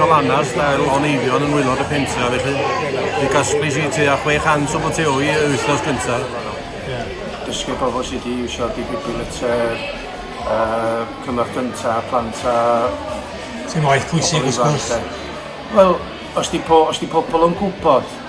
o lannerch fel o'n eifion yn wylod y pentra felly fi gasblis i ti a 600 o boteoi y wythnos gynta. Dysgu pobl sydd wedi iwsio defibrillator, uh, cymorth gynta, plant a... Ti'n waith pwysig wrth gwrs. Wel, os di, po, os di pobl yn gwybod